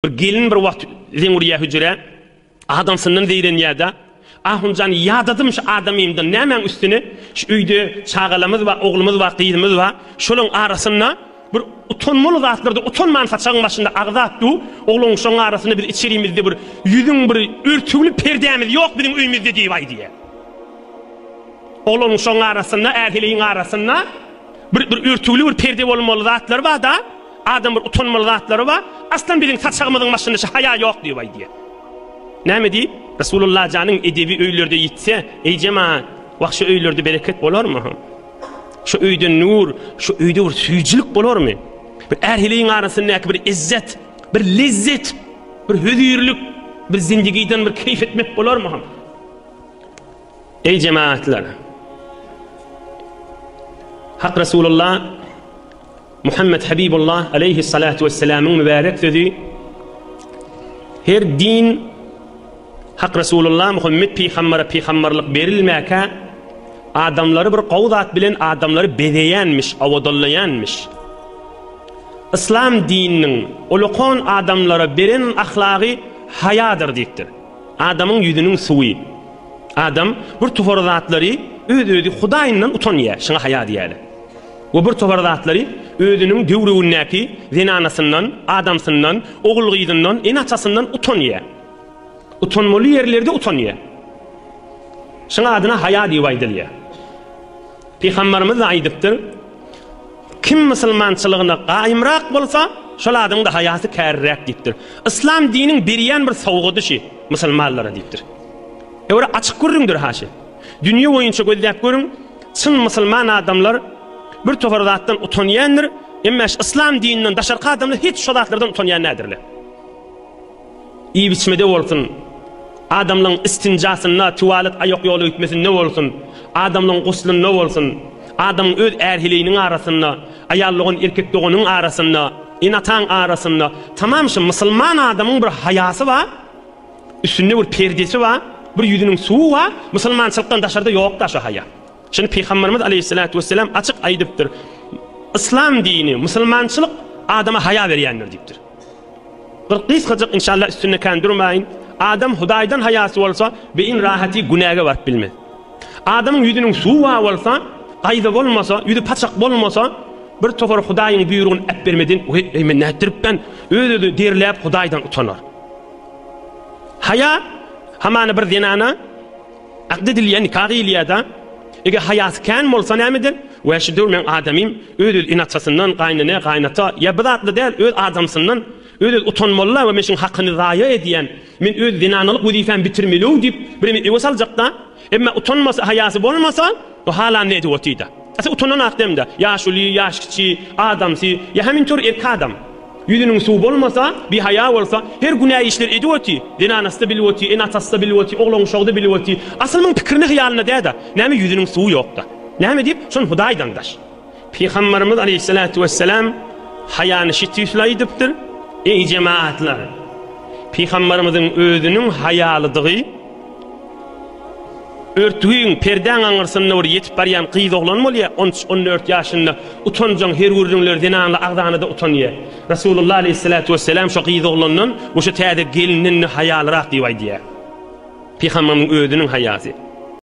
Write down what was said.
Bir gelin bir wagt zeň urýar hüjrä, adamsyndan zeýrenýär-de, Ahun jan, ýadadym şu adamymdan, nämäň üstüne, şu öýde çagalamyz bar, oglumyz bar, gyzymyz bar, şolaryň arasynda bir utanmaly zatlarda utanman saçagyň başynda agzap dur, ogluň şoň arasynda biz içerimizde bir ýüzüň bir örtügli perdämiz ýok biziň öýmüzde diýip-aý diýýär. Ogluň şoň arasynda, är-heleýiň arasynda bir örtügli bir perde bolmaly zatlar bar-da, Adam bir utanmaly zatlary bar, aslan biziň saçagymyzyň başynda şu haýa ýok diýip aýdýar. Näme diýip? Resulullah janyň edebi öýlerde ýitse, eý jemaat, wah şu öýlerde bereket bolarmy? Şu öýde nur, şu öýde bir süýjülik bolarmy? Bir ähliň arasyndaky bir izzet, bir lezzet, bir hözirlik, bir zindigiden bir keýf etmek bolarmy? Eý jemagatlar! Hak Resulullah Muhammed Habibullah aleyhi salatu vesselamyň mübärek sözi her din Hak Resulullah Muhammed pygambere pygamberlik berilmäkä adamlary bir gowy zat bilen adamlary bezeýänmiş, awadallaýanmiş. Islam dininiň ulukan adamlara beren ahlagy haýadyr diýipdir. Adamyň ýüzüniň suwy. Adam bir topar zatlary öz-özi Hudaýyndan utanýar, şuňa haýa diýýärler. We bir topar zatlary özüniň töweregindäki zenanasyndan, adamsyndan, ogul-gyzyndan, ene-atasyndan utanýar. Utanmaly ýerlerde utanýar. Şuňa adyna haýa diýip aýdylýar. Pygamberimiz-de aýdypdyr, Kim musulmançylygyna gaýymrak bolsa, şol adamyň-da haýasy käriräk diýipdir. Yslam diniň berýän bir sowgady şi, musulmanlara diýipdir. Ýöwre açyk gürrüňdir haşi. Dünýe boýunça gözläp görüň, çyn musulman adamlar bir topar zatdan utanýandyr, emma şi yslam dininden daşarky adamlar hiç şo zatlardan utanýan nädirler. Iýip-içmede bolsun, adamlaryň istinjasynda, tualet aýakýoly öýtmesinde bolsun, adamlaryň guslynda bolsun, adamyň öz är-heleýiniň arasynda, aýal dogan, erkek doganyň arasynda, ene-ataň arasynda, tamam şu musulman adamyň bir haýasy bar, üstünde bir perdesi bar, bir ýüzüniň suwy bar, musulmançylykdan daşarda ýok-da şu haýa. Şuny Pygamberimiz aleýhissalatu wesselam açyk aýdypdyr, Yslam dini, musulmançylyk adama haýa berýändir diýipdir. Bir gysgajyk inşallah üstünde kän durmaýyn. Adam Hudaýdan haýasy bolsa, beýin rahaty günäge baryp bilmez. Adamyň ýüzüniň suwa bolsa, gaýza bolmasa, ýüzi paçak bolmasa, bir topar Hudaýyň buýrugyny äpbermedin, weý, eý men nätdiripmen, öz-özüni derläp Hudaýdan utanar. Haýa, hamana bir zenana, Akd edilýän nika diýilýär-dä. Eger haýasy kän bolsa näme eder? Wä şu döwür meň adamym öz-öz inaçasyndan, gaýynene, gaýynata, ýa bir zatly däl, öz adamsyndan öz-öz utanmaly-la we men şuň hakyny zaýa edýän, men öz zenanalyk wezipämi bitirmeli-ow diýip, bireme öwes aljak-da. Emma utanmasy, haýasy bolmasa. Bu halan nedi otyda. Ese utanan akdemde yaşuly yaş kiçi adamsy ya hem intor erki adam yüzünün suw bolmasa bihaya bolsa her günä işler edip oty zenanasda bilip oty ene atasda bilip oty oglan uşagda bilip oty asyl myn pikirine hyýalynda däda name yüzünün suwy yokda name diyip şon hudaýdan daş Pygamberimiz aleýhissalatu wessalam haýany şi tüýsli aýdypdyr, Eý jemaatlar! Pygamberimiziň özüniň haýalydygy örtügiň, perdäň aňyrsynda bir ýetip barýan gyz oglan bolýar, on üç, on dört ýaşynda utanjaň her gürrüňler zenanly agzana-da utanýar. Resulullah aleýhissalatu wessalam şo gyz oglandan we şo täze gelinden-de haýalyrak diýip aýdýar. Pygamberimiziň özüniň haýasy.